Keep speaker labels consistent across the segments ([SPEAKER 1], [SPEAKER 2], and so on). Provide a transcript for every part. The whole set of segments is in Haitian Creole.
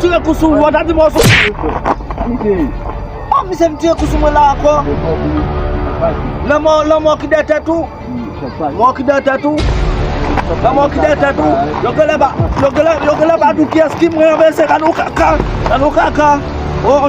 [SPEAKER 1] Tire kou sou ou ata di mò sou. Oh misye vin tire kou sou mwen la ankò. Lanmò lanmò ki dèyè tèt ou. Mò ki dèyè tèt ou. Lanmò ki dèyè tèt ou. Yo genlè ba yo genlè yo genlè ba di w kiyès ki mwen anmèse. Gade yon kaka. Gade yon kaka. Oh.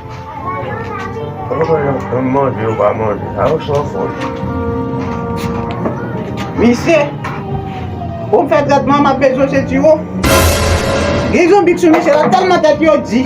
[SPEAKER 2] Misye, pou m fè tretman m ap bezwen se siwo. Gen zonbi ki sou misye la tèlman tèt yo di.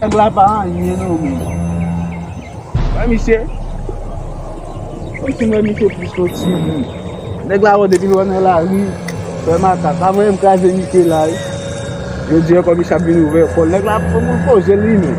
[SPEAKER 1] Nèg la pa anyen non men. Wè misye. Kòmsi m wè misye plis ke yon ti moun. Nèg la wè depi l wè m nan lari, fè makak. Pa voye m kraze misye la wi. Jodi an kòmsi ap vin ouvè kò l. Nèg la ap pran poze l li menm.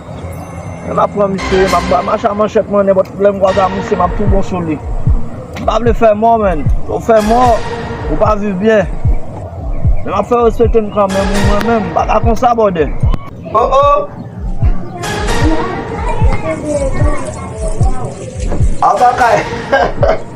[SPEAKER 1] Map pran misye, map bay mache a manchèt mwen nenpòt lè m kwaze ak misye map tou bon sou li. M pa vle fè mò menn, lè w fè mò, ou pa viv byen. Men map fè w respekte m kanmenm wi mwen menm m pa ka konsa bòdè. O o!
[SPEAKER 2] Aba kay!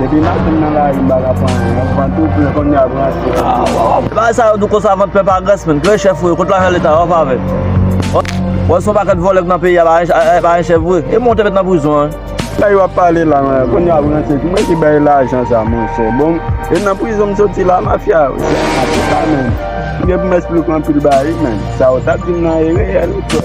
[SPEAKER 1] Depi machin nan lari m pa ka pran anyen, m pran tout plen kounye a branche yo tou. Bagay sa yo dou konsa
[SPEAKER 3] vant plen pa grès menn, kle chèf ou ye, kot lajan leta a, wap avèl. Wè son pakèt vòlè ki nan peyi a pa gen chèf vre, e moun te met nan prizon an. Sa yo ap pale
[SPEAKER 1] la menm, kounye a branche ki mwen ki bay lajan sa monchè, bon e nan prizon m soti la mafya yo se yon mafya sa menm, m gen pou m esplike anpil bagay menm, sa yo tap dim nan e reyèl ou
[SPEAKER 3] kwè.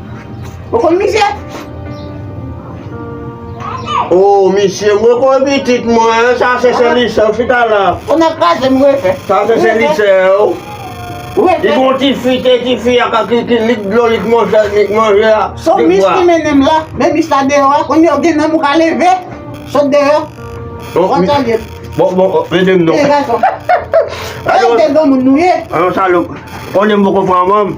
[SPEAKER 2] Ou konn misye?
[SPEAKER 4] Oh, misye, mwen konn pitit mwen, sa se se li se ou chita la. Ou nan kraze m
[SPEAKER 2] refe. Sa se se li se
[SPEAKER 4] ou. Refe.
[SPEAKER 2] Li gon ti fi, te
[SPEAKER 4] ti fi a ka ki ki lik dlo, lik manje, lik manje a. So mis ki
[SPEAKER 2] mennen m la, men mis la deyo a, konn yo gen nanm ou ka leve, sot deyo. Bon, mi. Konn salye. Bon, bon, bon, mede m
[SPEAKER 4] non. Ti gason.
[SPEAKER 2] Alon.
[SPEAKER 4] Mete bon moun nou ye.
[SPEAKER 2] Alon salop.
[SPEAKER 4] Konnen m poko pran manm.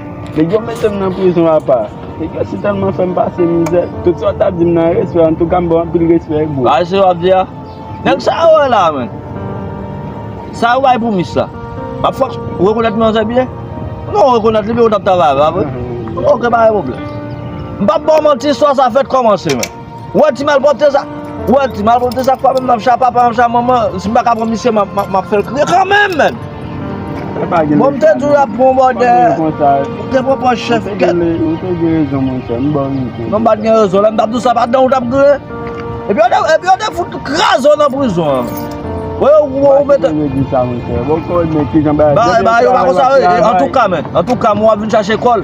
[SPEAKER 1] Nèg yo mete m nan prizon apa. Nèg yo si tèlman fè m pase mizè. Tout sa w t ap di m nan respè antouka m ba w anpil respè bro. Sa se w ap di a?
[SPEAKER 3] Nèg sa yo wè la menm. Sa yo bay pou mis la. Ap fòk w rekonèt manzè byen. Ou pa rekonèt li men ou t ap travay avè l pa vre? Ok pa gen pwoblèm. M p ap ba w manti istwa sa fèk kòmanse menm. Wè ti malpwopte sa wè ti malpwopte sa fwa menm nan cha papa nan cha manman si m paka pran misye map fèl kriye kanmenm menn bon m te di w lap pran yon bòdè ou te pran pòs chèf
[SPEAKER 1] kèt non m pat gen rezon lè m
[SPEAKER 3] tap di w sa pa dan w tap gouye epi yo te fout kraze w nan prizon an wè yo gouye w mete ba yo pa konsa antouka men antouka m wap vin chache kòl.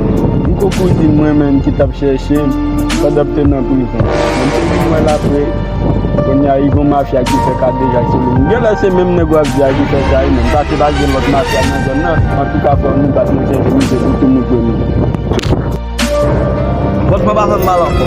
[SPEAKER 1] M ko pou di mwen menm ki tap chèche m pandan m te nan prizon M te vin wè l aprè Kounye a gon mafya ki fè kadejak sou li Genlè se menm nèg wap di a ki fè sa wi menm Paske pa gen lòt mafya nan zòn nan Antouka frè m nou bat nou chèche misye pou tounen premye. Vòt mwen
[SPEAKER 3] pa fè m mal ankò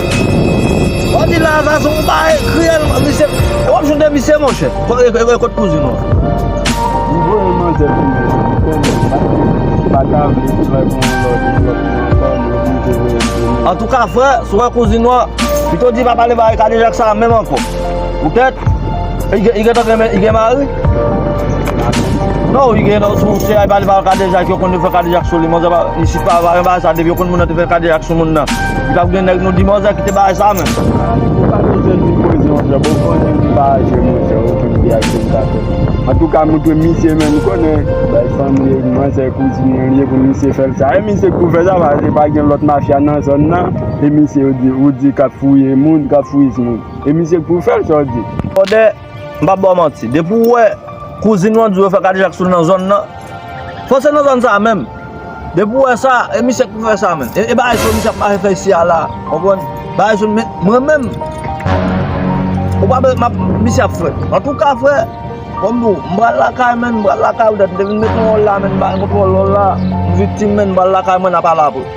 [SPEAKER 3] Wap di lavazan ou pa ekri el Misye wap jwenn de misye monchè Kot kouzin ou an. M voye manzè
[SPEAKER 1] tounen dominiken men paske m pata vle li pran yon lòt developman ankò m
[SPEAKER 3] oblije voye l tounen. Antouka frè, si w wè kouzin ou an, pito di pa pale bagay kadejak sa a menm ankò. Poutèt, li gentan gen li gen mari? Non, li gen non, si se a li pale bagay kadejak, yo konn yo fè kadejak sou li, manzè pa, isit pa, pa gen bagay sa a depi yo konn moun nan te fè kadejak sou moun nan. Li pap gen nèg non dimòzè kite bagay sa menm. Ou pa bezwen di poze yon jòb ou konnen li pa aje
[SPEAKER 1] monchè ou finn di ak jen sa fèt. Antouka mwen ke misye menm konnen bay fanm li e manzè kouzin li an ye pou misye fèl sa e misye k pou fè sa paske pa gen lòt mafya nan zòn nan e misye ou di kap fouye moun kap fouyis moun e misye k pou fèl sa w di. Kòdè
[SPEAKER 3] M pap ba w manti, depi w wè kouzin ou an di w yo fè kadejak sou l nan zòn nan, fò se nan zòn sa a menm, depi w wè sa, e misye ki pou fè sa menm? E bagay sa yo misye ap mache fè isi a la a, ou konprann? Bagay sa yo, men, mwen menm, ou pa bezwen, m ap, misye ap fè. Antouka frè, kòm m di w, m pral lakay menn, m pral lakay ou dat, m te vin mete yon òl la menn, m pa gen kontwòl òl la, m viktim menn, m pral lakay mwen n a pale apre.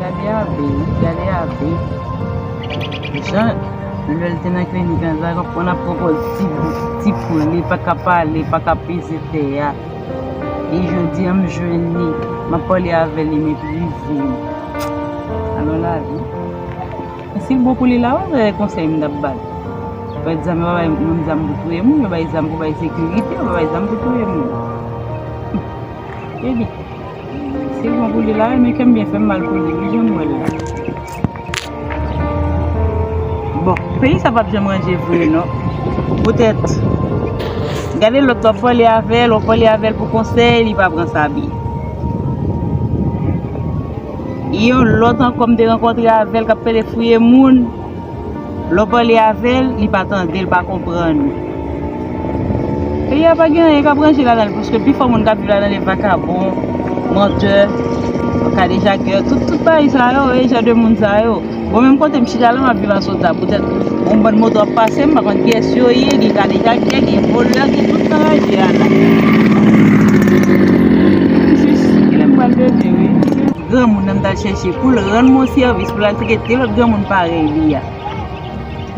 [SPEAKER 5] Gade Abe wi, gade Abe. Jan lè l te nan klinik an sa, l konn ap pwopòz ti poul li pa ka pale, pa ka peze tè a. E jodi an m jwenn li, m ap pale avè li m epi li di m. Alon lavi. Sil bon pou li la wi gade konsèy m tap bal yo pa di zam yo pa bay moun zam pou touye moun yo bay zam pou bay sekirite yo pa bay zam pou touye moun ebyen sil bon pou li la wi men kèm byen fèm mal pou li wi janm wèl la. Bon peyi sa pap janm ranje vre non poutèt gade lòt wap pale avèl wap pale avèl pou konsèy li pa pran sa byen. Yon lòt ankò m te rankontre avèl kap fè de fouye moun lè w pale avèl li pa tande l pa konprann ou peyi a pa gen anyen kap ranje ladan l paske pi fò moun kap viv ladan l e vakabon mantè kadejakè tout payi sa yo e jan de moun sa yo. Mwen menm kote m chita la map viv asota poutèt yon bann moto ap pase m pa konn kiyès yo ye gen kadejakè gen volè gen tout nan raje a la m jis kilè m pral leve wi. Granmoun nan m tal chèche poul rann m yon sèvis poul al cheke de lòt granmoun parèy li a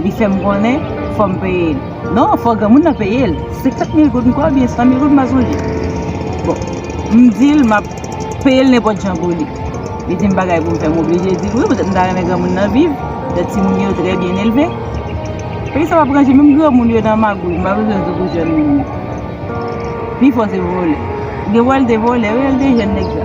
[SPEAKER 5] li fèm konnen fòm peye l non fò granmoun nan peye l 50 mil goud m kwè oubyen 100 mil goud m pa sonje bon m dil map Peye l nenpòt jan pou li. Li di m bagay pou m fè. M oblije di l wi poutèt m ta renmen granmoun nan viv. Poutèt timoun yo trè byen elve. Peyi sa pa pou ranje menm granmoun yo nan magouy. M pa bezwen di w pou jèn moun yo. Pi fò se vòlè. Gen wè l te vòlè wi lè l te jèn nèg sa.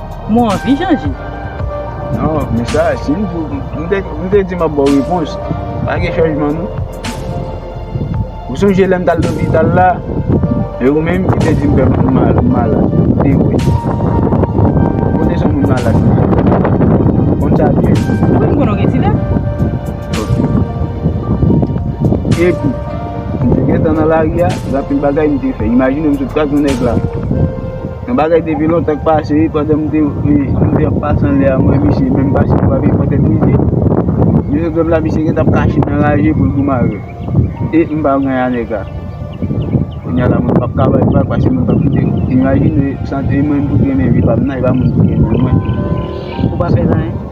[SPEAKER 5] Mwen anvi chanje. Non
[SPEAKER 1] men sa si m di w m te di map baw repons pa gen chanjman non ou sonje lèm tal lopital la e ou menm ki te di m fè m malad ou te wè kote son moun malad m te wè ou konn sa byen wi m konnen w gen ti vè ok epi m te gentan nan lari a gen anpil bagay m te fè imajine m sot pran yon nèg la. Yon bagay depi lontan k pase wi pandan m te ap pase anlè a m wè misye menm pa sou pavè fò tèt misye misye menm la misye gentan ap kache nan raje pou l pou mare e m pa wè a nèg la kounya la mwen pap ka bay vag paske mwen pap kite imajine sa e mwen m pou trennen vi pa m nan e pa moun ki trennen mwen. Ou pa
[SPEAKER 5] fè zanyen?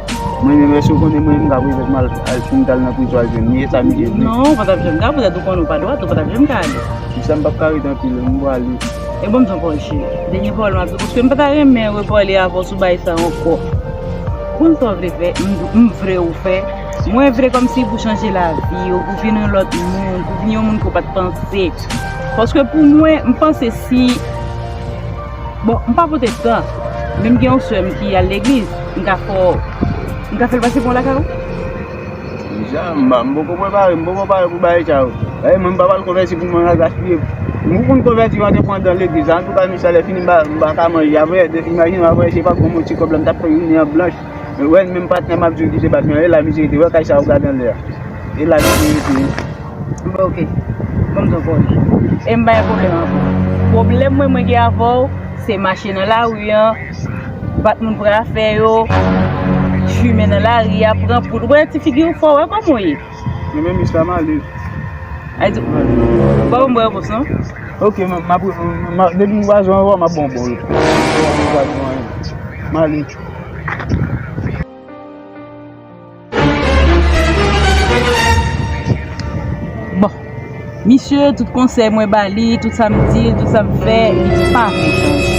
[SPEAKER 1] Mwen menm eske ou konnen mwen menm ka prezan pou mwen al si m tal nan prizon al jwenn li e sa misye vle. Non ou patap janm
[SPEAKER 5] ka
[SPEAKER 1] prezan
[SPEAKER 5] ou konnen ou
[SPEAKER 1] pa
[SPEAKER 5] dwat ou
[SPEAKER 1] patap
[SPEAKER 5] janm ka ale. Pousa
[SPEAKER 1] m
[SPEAKER 5] pap ka ret anpil
[SPEAKER 1] m
[SPEAKER 5] pwale. E banm ton pòl cheri. Dènye pawòl map di w paske m pata renmen repale avè w sou bagay sa ankò. Konn sa w vle fè m vle ou fè mwen vle kòmsi pou chanje lavi w pou vin yon lòt moun pou vin yon moun ke w pat panse paske pou mwen m panse si Bon, m pa pwotestan, men m gen yon sè m ki al legliz. M ka fè w, m ka fè l pase pou yon lakay ou? Deja, m pa, m
[SPEAKER 1] poko prepare, m poko pare pou bagay sa yo. Dayè mwen m pa pral konvèti pou mwen al gaspiye. M pou m konvèti m andepandan legliz la, antouka misa lè fini m pa, m pa ka manje apre. Imajine w apre se pa gwo moti kòb la m t ap fè jounen an blanch. Mwen wè menm patnèm ap jwe ki te bat mwen an, e la misye rete. Wè kay sa ou gade anlè a? E la misye rete. M fè ok.
[SPEAKER 5] Ban m zanfò w. E m pa gen pwoblèm avè w. Pwoblèm mwen mwen gen avè w, se mache nan lari an, bat moun pran afè yo, fimen nan lari a, pran poud. Wè ti figi ou fè w, wè kòman ou ye. Mwen menm jis la m
[SPEAKER 1] ale. Ay di,
[SPEAKER 5] ba w m bò repons non. Ok, m ap,
[SPEAKER 1] depi m wè zòn an wè w, m ap ba w bò repons. M ale.
[SPEAKER 5] Bon Misye tout konsèy mwen ba li Tout sa m di l Tout sa m fè Li pa vle chanje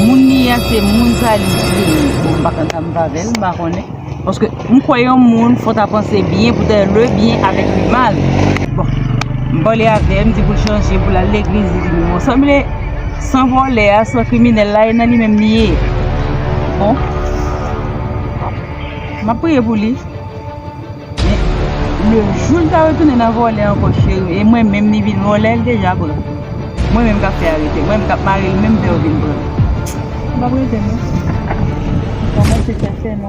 [SPEAKER 5] Moun li a se moun sa li vle Bon m pa konn sa m va vè l M pa konnen Paske M kwè yon moun fò ta panse byen pou ta le byen avèk le mal. Bon. M pale avè, m di pou l chanje, pou l al legliz, li di m bon. Sanble san vòlè a, san kriminèl la, e nan li menm li ye. Bon. M ap priye pou li. Men, le jou l ta retounen nan vòlè ankò cheri, e mwen menm li vin vòlè, l deja pran. Mwen menm k ap fè arete, mwen menm k ap mare l menm vè yo vin pran. M pa p rete non. M kòmanse fè fè non.